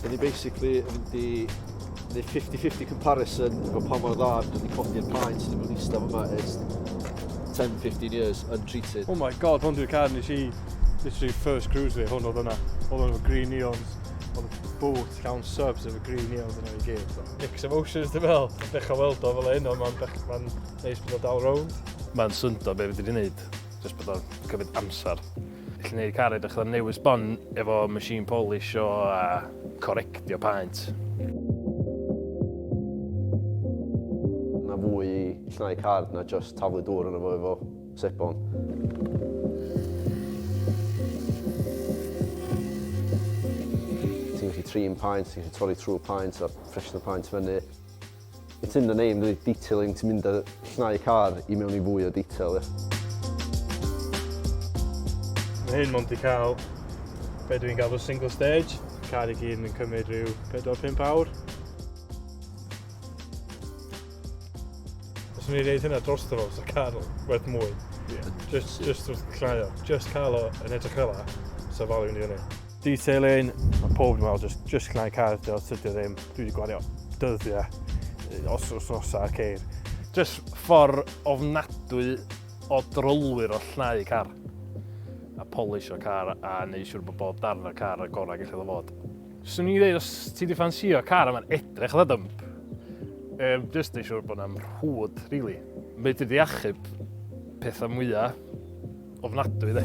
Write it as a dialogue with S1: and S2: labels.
S1: Dyn ni basically yn mynd i neud 50-50 comparison efo pa mor dda dyn ni codi'r paen sydd wedi bod eistedd yma ers 10-15 years untreated. Oh my god, hwn dwi'n
S2: car nes i literally first cruise fi, hwn oedd yna. Oedd yna green neons, oedd y boot llawn subs efo green neons yna i gyd. Mix emotions dwi'n fel, dechrau weld o fel un, ond mae'n ma neis bod o dal rownd. Mae'n syndod be
S3: fi wedi gwneud, jyst bod o'n cymryd amser. Gallu gwneud car edrych fatha newydd sbon efo machine polish o a corectio paent.
S4: Mae fwy i llnau car na just taflu dŵr yn fo efo sebon. Ti'n gallu trin paent, ti'n gallu torri trwy paent a ffresno paent fyny. It's in the name dydi? Detailing, ti'n mynd a llnau car i mewn i fwy o detail, ie.
S2: Mae hyn mond i cael be dwi'n galw single stage. Car i gyd yn cymryd rhyw 4-5 awr. Os ni'n gwneud hynna dros dro, so car werth mwy. Yeah. Just, just wrth llnau o. Just cael o yn edrych fel la, so value ni hynny. Detailing, mae pob yn meddwl, just, just gwnau cael dy os ydy ddim. Dwi wedi gwario dyddiau, os os os ar ceir. Just ffordd
S3: ofnadwy o drolwyr o llnau car. A polish o car a neud siwr bod bob darn o car y gorau gallu ddo fod. Swn i'n dweud, os ti wedi ffansio car yma'n edrych dda dymp, um, just neud siwr bod yna'n rhwyd, really. Mae wedi achub pethau mwyaf Ofnadwy de.